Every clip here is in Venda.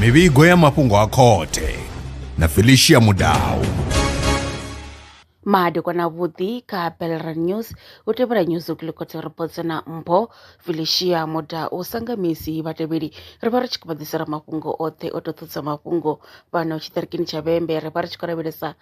mivhigo ya mafhungo a khothe na felicia mudau madekwana vhuḓi kha belran news u tevhela news u kilikotsa reports na mpho felicia muda u sanga misi vhatevheli ri vha ri tshi khou vha ḓisela mafhungo oṱhe o to ṱhudza mafhungo fhano tshiṱirikini tsha vhembe ri vha ri tshi khou lavhelesa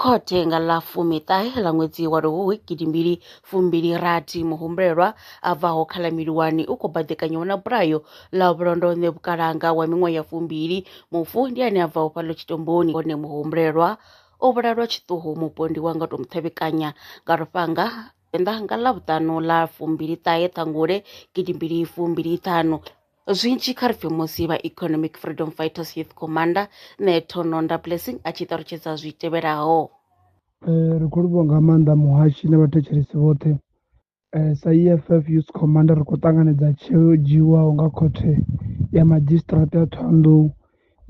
Khothe nga ḽa fumiṱahe ḽa ṅwedzi wa Luhuhi gidimbili fumbili rathi muhumbulelwa a bvaho kha ḽa Miliwani u khou baḓekanywa na bulayo ḽa vhulondo ṋe vhukalanga wa miṅwaha ya fumbili mufu ndi ane a bvaho fhaḽo tshitomboni hone muhumbulelwa o vhulalwa tshiṱuhu mupondi wa nga to muṱhevhekanya nga lufhanga enda nga ḽa vhuṱanu ḽa fumbili ṱahe ṱhangule gidimbili fumbili ṱhanu Zwinzhi kha ri pfhe musi vha Economic Freedom Fighters Youth Commander Neto Nonda Blessing a tshi ṱalutshedza zwi tevhelaho. Ri khou livhuwa nga maanḓa muhashi na vhathetshelesi vhoṱhe Eh, sa EFF Youth Commander ri khou ṱanganedza tsheo yo dzhiiwaho nga khothe ya madzhisiṱiraṱa ya Thohoyandou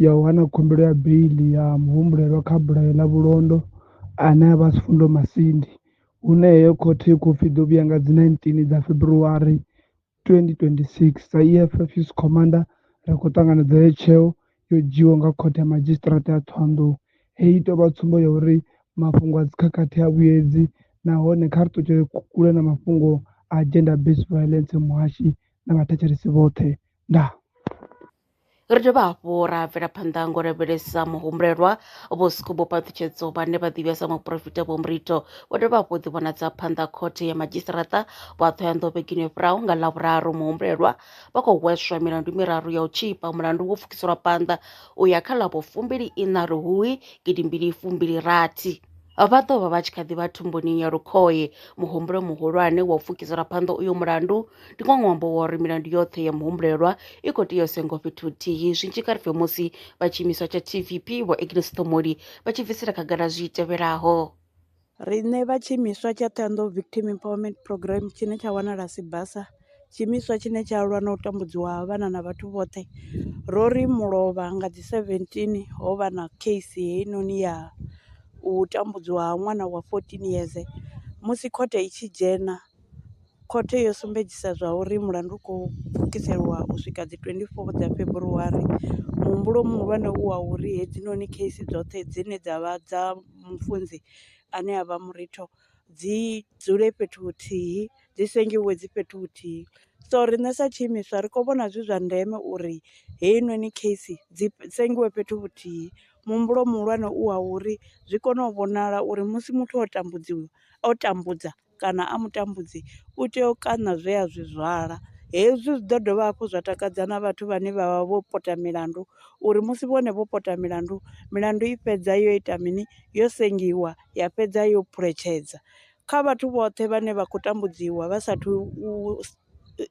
ya u hana khumbelo ya beiḽi ya muhumbulelwa kha bulayo ḽa vhulondo ane a vha Sifundo Masindi hune heyo khothe i khou pfi ḓo vhuya nga dzi 19 dza February 2026. Sa EFF Youth Commander, ri khou ṱanganedza heyi tsheo yo dzhiiwaho nga Khothe ya Madzhisiṱiraṱa ya Thohoyandou. Heyi i tou vha tsumbo ya uri mafhungo a dzikhakhathi ha vhuyedzi nahone kha ri ṱutshele kule na mafhungo a gender based violence muhashi na vhathetshelesi vhoṱhe. Ndaa. Ri dovha hafhu ra bvela phanḓa ngo lavhelesa muhumbulelwa vho Sikubo Paṱhutshedzo vhane vha ḓivhiwa sa muporofita Vho Murito vho dovha hafhu ḓi vhonadza phanḓa khothe ya madzhisiṱaraṱa vha Thohoyandou vhegeni yo fhiraho nga Ḽavhuraru muhumbulelwa vha khou hweswa milandu miraru ya u tshipa mulandu wo pfukiselwa phanḓa u ya kha ḽa vho fumbili ina Luhuhi gidimbili fumbili rathi vha ḓo vha vha tshi kha ḓi vha thumbuni ya lukhohe muhumbulo muhulwane wa u pfukisela phanḓa uyo mulandu Ndi nga ṅwambo wa uri milandu yoṱhe ya muhumbulelwa i khou tea u sengiwa fhethu huthihi zwi tshi kha ri bve musi vha tshiimiswa tsha TVP Vho Agnes Ṱhomoli vha tshi bvisela khagala zwi tevhelaho. Riṋe vha tshiimiswa tsha Thohoyandou Victim Empowerment Programme tshine tsha wanala Sibasa, tshiimiswa tshine tsha lwa na u tambudziwa ha vhana na vhathu vhoṱhe, ro ri mulovha nga dzi 17 ho vha na case heinoni ya u tambudziwa ha ṅwana wa 14 yeze musi khothe i tshi dzhena. khothe yo sumbedzisa zwa uri mulandu u khou pfukiseliwa u swika dzi 24 dza February. Muhumbulo muhulwane u wa uri hedzinoni case dzoṱhe dzine dza vha dza mufunzi ane a vha muritho dzi dzule fhethu huthihi, dzi sengiwa dzi fhethu huthihi. So riṋe sa tshiimiswa ri kho vhona zwi zwa ndeme uri heyinoni case dzi sengiwa fhethu huthihi, muhumbulo muhulwane u wa uri zwi kone u vhonala uri musi muthu o tambudziwa o tambudza kana a mutambudzi u tea u kaṋa zwe a zwi zwala. Hezwi zwi ḓo dovha hafhu zwa takadza na vhathu vhane vha vha vho pota milandu uri musi vhone vho pota milandu, milandu i fhedza yo ita mini yo sengiwa ya fhedza yo phuletshedza kha vhathu vhoṱhe vhane vha khou tambudziwa vha sathu u.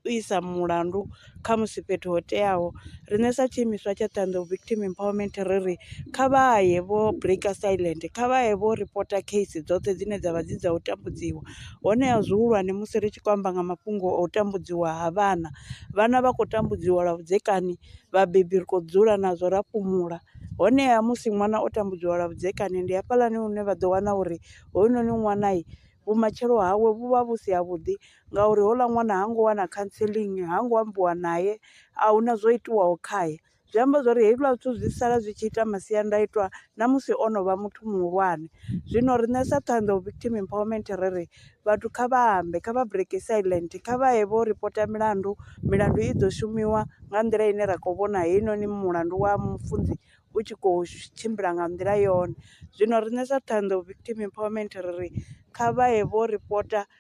u isa mulandu kha musi fhethu ho teaho riṋe sa tshiimiswa tsha Ṱhohoyanḓou Victim Empowerment ri ri kha vha ye vho break silent kha vha ye vho reporter case dzoṱhe dzine dzavha dzi dza u tambudziwa, honeha zwihulwane musi ri tshi khou amba nga mafhungo o tambudziwa ha vhana, vhana vha khou tambudziwa lwa vhudzekani vhabebi ri kho dzula nazwo ra fhumula, honeha musi ṅwana o tambudziwa lwa vhudzekani ndi hafhaḽani hune vha ḓo wana uri hoyunoni ṅwana vhumatshelo hawe vhu vha vhu si ha vhuḓi. ngauri houḽa ṅwana ha ngo wana counselling ha ngo ambiwa naye a huna zwo itiwaho khae. Zwi amba zwori hezwiḽa zwithu zwi sala zwi tshi ita masiandaitwa na musi o no vha muthu muhulwane. Zwino riṋe sa Ṱhohoyanḓou Victim Empowerment ri ri vhathu kha vha ambe kha vha break silent kha vha ye vho ripota milandu, milandu i ḓo shumiwa nga nḓila ine ra kho vhona heinoni mulandu wa mufunzi u tshi kho tshimbila nga nḓila yone. Zwino riṋe sa Ṱhohoyanḓou Victim Empowerment ri ri kha vha ye vho ripota.